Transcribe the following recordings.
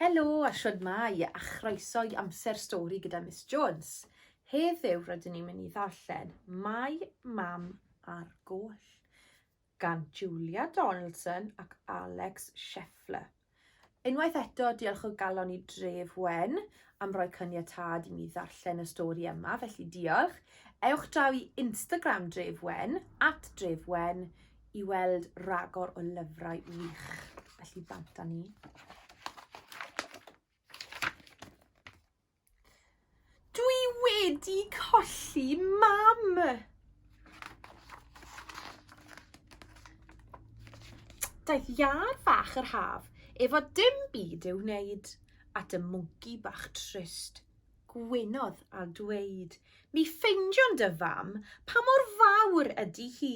Helo a shwdmai a chroeso i Amser Stori gyda Miss Jones. Heddiw rydyn ni'n mynd i ddarllen Mae Mam ar Goll gan Julia Donaldson ac Alex Scheffler. Unwaith eto, diolch o galon i Dref Wen am roi caniatâd i mi ddarllen y stori yma, felly diolch. Ewch draw i Instagram Dref Wen, at Dref Wen, i weld ragor o lyfrau wych, felly bant â ni. Dwi wedi colli mam! Daeth iar fach yr haf efo dim byd i'w wneud at y mwnci bach trist. Gwynodd a dweud, mi ffeindion dy fam pa mor fawr ydy hi.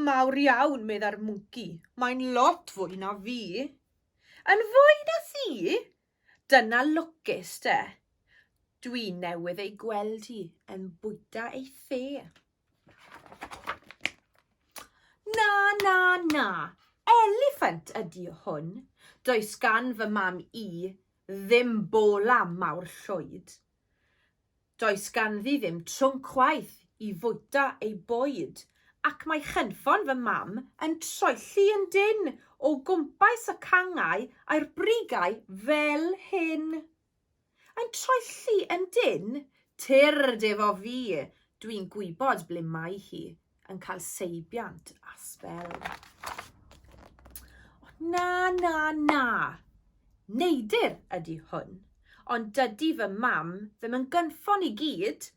Mawr iawn, meddai'r mwnci. Mae'n lot fwy na fi. Yn fwy na thi? Dyna lwcus de. Dwi newydd ei gweld hi yn bwyta ei the. Na, na, na. Eliffant ydi hwn. Does gan fy mam i ddim bola mawr llwyd. Does ganddi ddim trwm chwaith i fwyta ei bwyd ac mae chynffon fy mam yn troelli yn dynn o gwmpas y cangau a'r brigau fel hyn. Yn troelli yn dynn? Tyrd efo fi, dwi'n gwybod ble mae hi, yn cael seibiant a sbel. Na, na, na. Neidir ydy hwn, ond dydy fy mam ddim yn gynffon i gyd.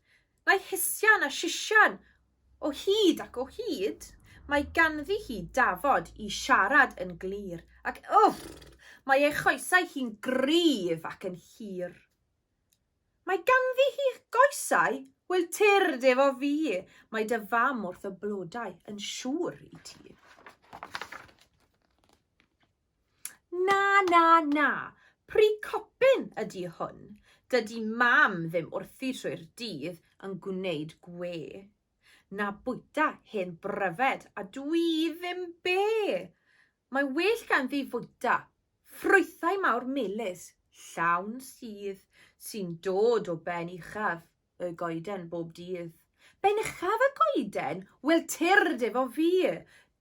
Mae hisian a sisian o hyd ac o hyd. Mae ganddi hi dafod i siarad yn glir ac uff, mae ei choesau hi'n gryf ac yn hir. Mae ganddi hi goesau? Wel, tyrd efo fi. Mae dy fam wrth y blodau, yn siŵr i ti. Na, na, na. Pri copyn ydy hwn. Dydy mam ddim wrthi trwy'r dydd yn gwneud gwe. Na bwyta hen bryfed a dwi ddim be. Mae well ganddi fwyta ffrwythau mawr melys, llawn sudd, sy'n dod o ben uchaf y goeden bob dydd. Ben uchaf y goeden? Wel, tyrd efo fi!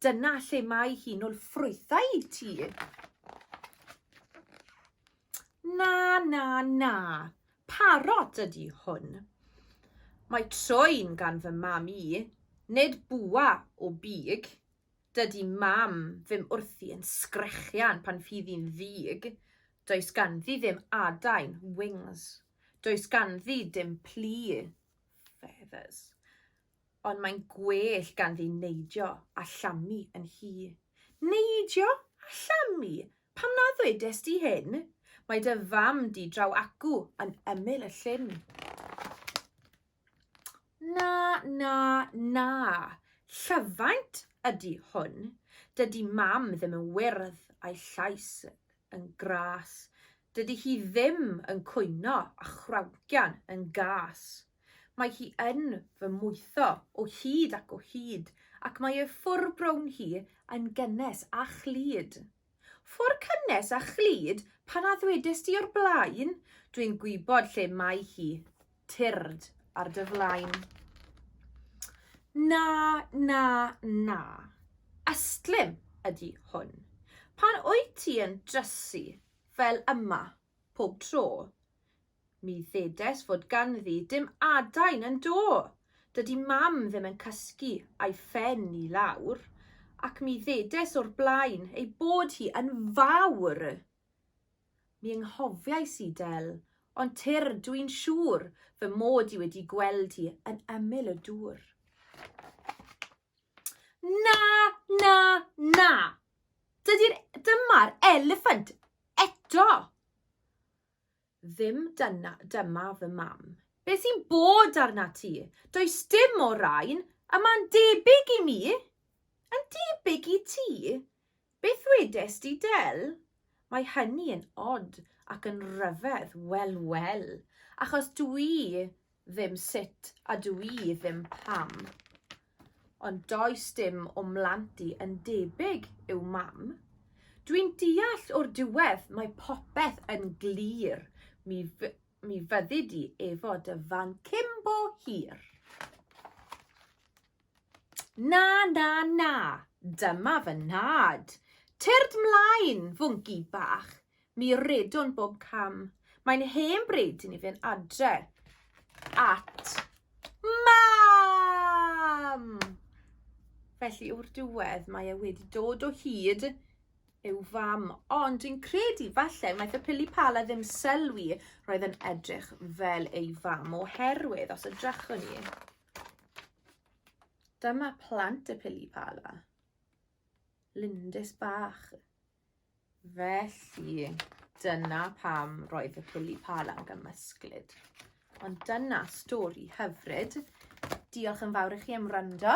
Dyna lle mae hi'n ôl ffrwythau i ti. Na, na, na. Parot ydi hwn. Mae troi'n gan fy mam i, nid bwa o big, Dydy mam ddim wrthi yn sgrechian pan fydd hi'n ddig. Does ganddi ddim adain, wings. Does ganddi dim plu, feathers. Ond mae'n gwell ganddi neidio a llamu yn hi. Neidio a llamu? Pam na ddwedes di hyn? Mae dy fam di draw acw yn ymyl y llyn. Na, na, na. Llyfaint ydy hwn. Dydy mam ddim yn wyrdd a'i llais yn gras. Dydy hi ddim yn cwyno a chrawgian yn gas. Mae hi yn fy mwytho o hyd ac o hyd ac mae ei ffwr brown hi yn gynnes a chlyd. Ffwr cynnes a chlyd pan a ddwedest ti o'r blaen, dwi'n gwybod lle mae hi, tyrd ar dy flaen. Na, na, na, ystlum ydi hwn. Pan wyt ti yn drysu fel yma pob tro, Mi ddedes fod ganddi dim adain yn do. Dydi mam ddim yn cysgu a'i phen i lawr, ac mi ddedes o'r blaen ei bod hi yn fawr. Mi ynghofiais i, Del, ond tyrr dw i'n siŵr fy mod i wedi gweld hi yn ymyl y dŵr. Na, na, na! Dydy'r... Dyma'r eliffant eto! Ddim dyna, dyma fy mam. Be sy'n bod arna ti? Does dim o rain, a mae'n debyg i mi! Yn debyg i ti? Beth wedes di, Del? Mae hynny yn od ac yn ryfedd, wel, wel, achos dwi ddim sut a dw i ddim pam. Ond does dim o mlant i yn debyg i'w mam. Dwi'n deall o'r diwedd mae popeth yn glir, mi, mi fyddi di efo dy fan cymbo hir. Na, na, na, dyma fy nhad. Tyrd mlaen, fwnci bach. Mi redwn bob cam. Mae'n hen bryd i ni fynd adre at mam! Felly o'r diwedd mae e wedi dod o hyd yw fam, ond dwi'n credu falle wnaeth y pili pala ddim sylwi roedd yn edrych fel ei fam oherwydd os ydrachwn ni. Dyma plant y pili pala. Lindys bach. Felly, dyna pam roedd y pili pâl am gymysglyd. Ond dyna stori hyfryd. Diolch yn fawr i chi am wrando.